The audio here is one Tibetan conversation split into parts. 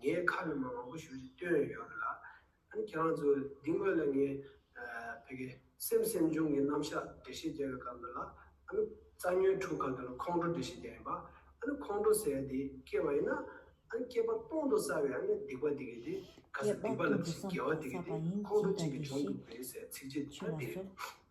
ངས་ཁ་བའི་མ་མང་པོ་ཞུ་རེ་བཏོན་ཡོད་རེད་ལ། ཨ་ནི་ཁྱེད་རང་ཚོས་འདི་སྔོན་ལ་ངས་བོད་ཀྱི་སེམས་སེམས་བྱུང་གི་རྣམ་གཞག་འགྲེལ་བཤད་རྒྱབ་ཡོད་སྐབས་འདི་ལ་ཨ་ནི་རྩ་ཉོན་དྲུག་ག་འདི་ལ་ཁོང་ཁྲོ་འགྲེལ་བཤད་རྒྱབ་ཡིན་པ། ཨ་ནི་ཁོང་ཁྲོ་ཟེར་ཡ་འདི་སྐྱེ་བ་ཡིན་ན་ཨ་ནི་སྐྱེས་པ་སྟོང་དུ་བསགས་པའི་ཨ་ནི་སྡིག་པ་འདི་གི་དེ་ག་སེ་སྡིག་པ་ལ་བྱས་དགེ་བ་འདི་གི་དེ་ཁོང་ཁྲོ་གཅིག་གི་འབྱུང་གི་དགོས་ཟེར་ཚིག་རྗེས་འདི་ལྟར་བསྡད།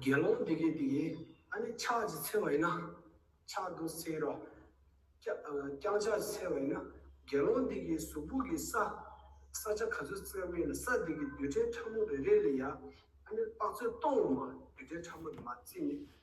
དགེ་སློང་དེ་གའི་དེ་ཨ་ནི་ཕྱག་ཅིག་འཚལ་བ་ཡིན་ན་ཕྱག་དུ་འཚལ་ལོ། ཀྱང་ཕྱག་ཅིག་འཚལ་བ་ཡིན་ན་དགེ་སློང་དེ་གའི་གཟུགས་ཕུག་གི་ས། ས་ཆ་ག་ཚོད་བཙལ་བ་ཡིན་ན་ས་དེ་གའི་རྡུལ་ཕྲན་ཕྲ་མོ་རེ་རེ་ལས་ཡང་ཨ་ནི་དཔག་ཚད་སྟོང་བ་མ་རྡུལ་ཕྲན་ཕྲ་མོ་དུ་མ་བཙལ་ནས་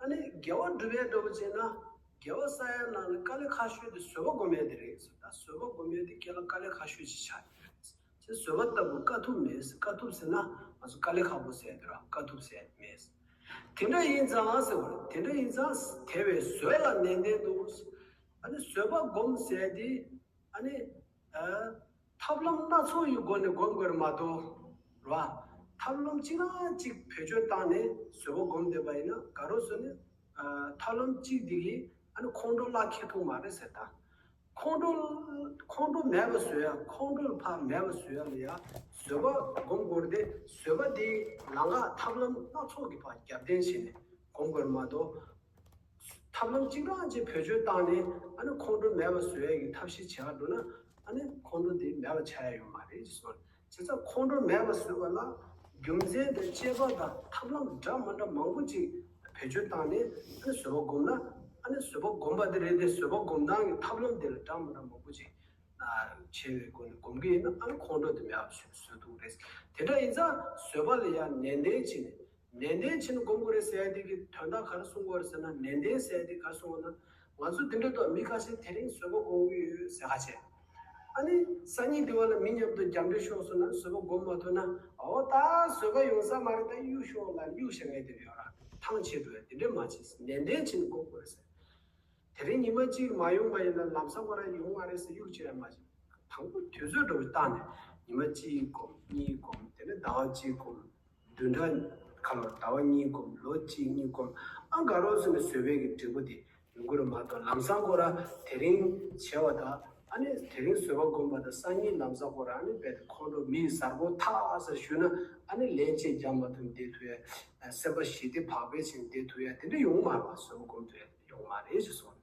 ཨ་ནི་རྒྱལ་བ་སྒྲུབ་ཡས་འགྲོ་བ་ཅན་ན་རྒྱལ་བ་ས་ཡ་ནང་ནས་དཀའ་ལས་ཁ་ཤོས་དེ་བཟོད་པ་སྒོམ་ཡས་དེ་རེད་ཟེར་ད་བཟོད་པ་སྒོམ་ཡས་དེ་སྐད་ལ་དཀའ་ལས་ཁ་ཤོས་ཅིག་ཆགས་ཡས་རེད་ཟེར་བཟོད་པ་ལྟ་བུ་དཀའ་ཐུབ་མེད་ཟེར་དཀའ་ཐུབ་ཟེར་ན་ང་ཚོ་དཀའ་ལས་ཁ་པོ་ཟས་འདོད་ར་དཀའ་ཐུབ་ཟས་མེད་ཟེར་དེ་འདྲ་ཡིན་ཙང་ཟེར་བ་རེད་དེ་འདྲ་ཡིན་ཙང་དེ་བས་བཟོད་ལ་ནན་ཏན་འདུག་ཨ་ནི་བཟོད་པ་སྒོམ་ཟས་དེ་ཨ་ནི། ཐབས་ལམ་སྣ་ཚོགས་ཡི་སྒོ་ནས་སྒོམ་དགོས་ར་མ་གཏོགས། ར། ཐབས་ལམ་གཅིག་རང་གཅིག་བེད་སྤྱོད་བཏང་ནས་བཟོད་པོ་སྒོམ་བསྡད་པ་ཡིན་ན་ག་རོ་ཟོ་ནས། ཐབས་ལམ་གཅིག་འདི་གིས་ཨ་ནི་ཁོང་ཁྲོ་གླགས་ཁེལ་ཐུག་མ་རེད་ཟེར་ད། ཁོང་ཁྲོ། ཁོང་ཁྲོ་མེད་པ་ཟོས་ཡ་ཁོང་ཁྲོ་ལ་ཕག་མེད་པ་ཟོས་ཡ་ལ་ཡ་བཟོད་པོ་སྒོམ་དགོས་ར་དེ་བཟོད་པ་དེའི་ལང་ཀ་ཐབས་ལམ་སྣ་ཚོགས་ཀྱི་བར་རྒྱབ་རྟེན་བྱས་ནས་སྒོམ་དགོས་ར་མ་གཏོགས། ཐབས་ལམ་གཅིག་རང་གཅིག་བེད་སྤྱོད་བཏང་ནས་ཨ་ནི་ཁོང་ཁྲོ་མེད་པ་བཟོ་ཡ་གི་ཐབས་ཤིག་བྱེད་ཀ་འགྲོ་ན་ཨ་ནི་ཁོང་ཁྲོ་དེ་མེད་པ་བྱ་ཡ་ཡོད་མ་རེད་བཟོ་བྱེད་ས་ཁོང་ཁྲོ་མེད་པ་བཟོས་པ་ལ་རྒྱུ་མཚན་དང་དཔྱད་པ་དང་ཐབས་ལམ་འདྲ་མ་འདྲ་མང་པོ་གཅིག་བེད་སྤྱོད་བཏང་ནས་ཨ་ནི་བཟོ་བ་སྒོམ་ན་ཨ་ནི་བཟོ་བ་སྒོམ་པ་དེ་རེད་དེ་བཟོ་བ་སྒོམ་སྟངས་ཀྱི་ཐབས་ལམ་དེ་ལ་འདྲ་མ་འདྲ་མང་པོ་གཅིག་བྱས་པའི་སྒོ་ནས་སྒོམ་གི་ཡིན་ན་ཨ་ནི་ཁོང་ཁྲོ་དེ་མེད་པ་བཟོས་འདུག་རེད་དེ་འདྲ་ཡིན་ཙང་བཟོ་བ་ལ་ཡང་ནན་ཏན་བྱེད་ནས་ནན་ཏན་ཕྱིན་སྒོམ་གོ་རེ་སའི་དུས་ཀྱི་དོན་དག་ག་རེ་གསུང་གོ་རེ་ཟེར་ན་ནན་ཏན་སའི་དུས་ག་རེ་གསུང་བ་ན་ང་ཚོ་འདི་འདྲ་ཐོག་མི་ཁ་ཤས་དེ་རིང་བཟོད་པ་སྒོམ་གི་ཡོད་ཟེར་ཧ་ཆེ། ཨ་ནི་སང་ཉིན་དེ་བ་ལ་མི་མཉམ་དུ་རྒྱབ་འགྲེལ་ཤོག་ཟེར་ན་བཟོད་པ་སྒོམ་མ་ཐུབ་ན་ཨོ་ད་བཟོད་པ་ཡོང་ས་མ་རེད་ད་གཡུག་ཤོག་ལ་གཡུག་ཞེ་ངས་དེ་རེད་ཡོད་ར་ཐང་ཆད་འགྲོ་ཡ་དེ་འདྲས་མ་བྱེད་ཟེར་ནན་ཏན་ཕྱིན་སྒོམ་གོ་རེ་ཟེར་དེ་རིང་ཉིན་མ་གཅིག་མ་ཡོང་པ་ཡིན་ན་ལམ་སང་མ་ར་ཡོང་ཨ་རེད་ཟེར་གཡུག་བྱེད་ཡ་མ་བྱེད་དང་པོ་དུས་ཚོད་འགྲོ་བཞིན་བརྟག་ནས་ཉིན་མ་གཅིག་སྒོམ་གཉིས་སྒོམ་དེ་ནས་ཟླ་བ་གཅིག་སྒོམ། བདུན་ཕྲག་ཁ་ལོར་ཟླ་བ་གཉིས་བསྒོམ་ལོ་གཅིག་གཉིས་བསྒོམ་ཨ་དགའ་རོགས་ཟེར་ནས་ཟོལ་བས་ཀྱི་འབྲས་བུ་དེ་མི་འགོ་རུ་མ་གཏོགས་ལམ་བཟང་སྐོར་ར་དེ་རིང་བྱས་བ་དང་ཨ་ནི་དེ་རིང་ཟོལ་བ་བསྒོམ་པ་དང་སང་ཉིན་ལམ་བཟང་སྐོར་ར་ཨ་ནི་རྦད་དེ་ཁོང་ཁྲོ་མི་ཡི་ཟར་བོ་ཐག་ཟེར་བཞུགས་ན་ཨ་ནི་ལན་གཅིག་རྒྱག་མ་ཐུབ་འདེད་ཐུབ་ཡ། སེམས་པ་ཞི་བདེ་བག་ཕེབས་ཕྱིན་འདེད་ཐུབ་ཡ་དེ་འདྲ་ཡོང་མ་ར་བ་ཟོལ་བ་བསྒོམ་ཐུབ་ཡ་དེ་འདྲ་ཡོང་མ་རེད་ཅེས་གསུངས།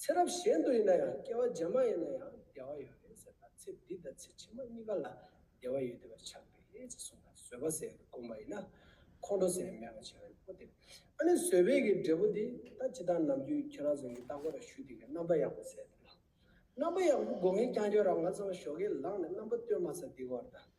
ཚེ་རབས་གཞན་དུ་ཡིན་ན་ཡང་སྐྱེ་བ་རྗེས་མ་ཡིན་ན་ཡང་བདེ་བ་ཡོད་རེད་ཟེར་ན་ཚེ་འདི་དང་ཚེ་ཕྱི་མ་གཉིས་ཀ་ལ་བདེ་བ་ཡོད་དེ་བས་ཆགས་པས་ཅེས་གསུངས་ན་བཟོད་པ་ཟེར་བའི་དགོངས་པ་ཡིན་ན། ཁོང་ཁྲོ་ཟེར་བའི་མེད་པ་བྱེད་རོགས་གྱིས་ཨོ་དེ། ཨ་ནི་བཟོད་པས་ཀྱི་འབྲས་བུ་འདི་ད་ཇི་ལྟར་ནམ་རྒྱུན་ཁྱེད་རང་ཚོ་ཡི་ལྟག་པ་ར་ཞུ་དེ་གའི་རྣམ་པ་ཡག་པོ་ཟེར་དེ་ལ། རྣམ་པ་ཡག་པོ་དགོས་ངེས་ཀྱང་ཁྱོད་རང་ང་ཚོ་ལ་ཞོགས་ཀའི་ལག་ནས་རྣམ་པ་སྟོན་མ་ཟ་དེ་གོ་ར་ད།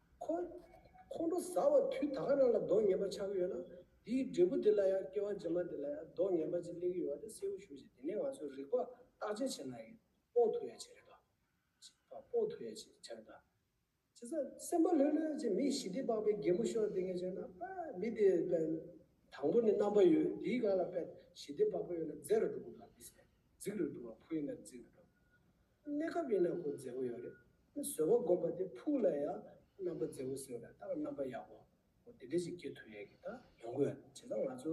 ཁོང་ཁོང་ཁྲོ་ཟ་བ་དུས་ད་ག་རང་ལ་རྡོ་ངན་པ་ཆགས་ཀྱི་ཡོད་ན་དེའི་འབྲས་བུ་དེ་ལ་ཡང་སྐྱེ་བ་རྗེས་མ་དེ་ལ་ཡང་རྡོ་ངན་པ་ཅིག་སླེབས་ཀྱི་ཡོད་པ་དེ་གསལ་བོ་ཞུ་བཞིན་དེ་ནས་ང་ཚོས་རིག་པ་བརྟག་དཔྱད་བྱེད་ན་ཡང་དཔོག་ཐུབ་ཡ་བྱེད་རེད་པ། དཔོག་ཐུབ་ཡ་བྱེད་རེད་པ། བྱས་ཙང་སེམས་པ་ལྷོད་ལྷོད་ཅིག་མི་ཞི་བདེ་འབག་པའི་རྒན་མོ་ཤོར་དེ་ངས་བྱས་ན་པ་མི་དེ་པ། དང་པོ་ནས་རྣམ་པ་ཡོད་དེའི་སྒང་ལ་པ་ཞི་བདེ་འབག་པ་ཡོད་ན་རྫས་རུ་འགྲོ་གི་འདུག་པ་མི་ཟེར། རྫིག་རུ་འགྲོ་བ་ཕུ་ཡིན་ན་རྫིག་རུ་འགྲོ། གནས་སྐབས་ཡིན་ན་གོ་མཛེས་པོ་ཡོད་རེད། དེ་བཟོ་བ་སྒོམ་པ་དེ་ཕུགས་ལ་ཡང་རྣམ་པ་མཛེས་པོ་ཟེར་བ་ལྟར་ད་རྣམ་པ་ཡག་པོ་འོ་དེ་འདྲ་ཞིག་སྐྱེ་ཐུབ་ཡས་ཀྱི་ད་ཡོང་གི་ཡོད་བྱས་ཙང་ང་ཚོ་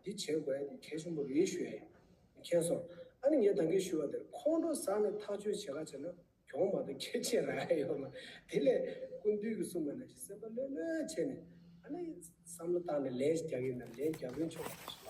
འདི་བྱེད་དགོས་ཡས་དེ་གལ་ཆེན་པོ་རེད་ཞུ་ཡས་ཡིན་མཁྱེན་སོང་ཨ་ནི་ངས་ད་གིས་ཞུ་བ་དེར་ཁོང་ཁྲོ་ཟ་ནས་ཐག་གཅོད་བྱེད་ག་བྱེད་ན་གྱོང་མ་གཏོགས་ཁྱད་ཆེ་ར་ཡས་ཡོད་མ་དེ་ལས་ཀུན་འདུས་ཀྱི་གསུངས་པ་ན་ཞིག་སེམས་པ་ལྷོད་ལྷོད་བྱས་ནས་ཨ་ནི་བསམ་བློ་བཏང་ནས་ལས་རྒྱག་གིན་ན་ལས་རྒྱག་དོན་ཆོག་པ་རེད་ཞུ་བ།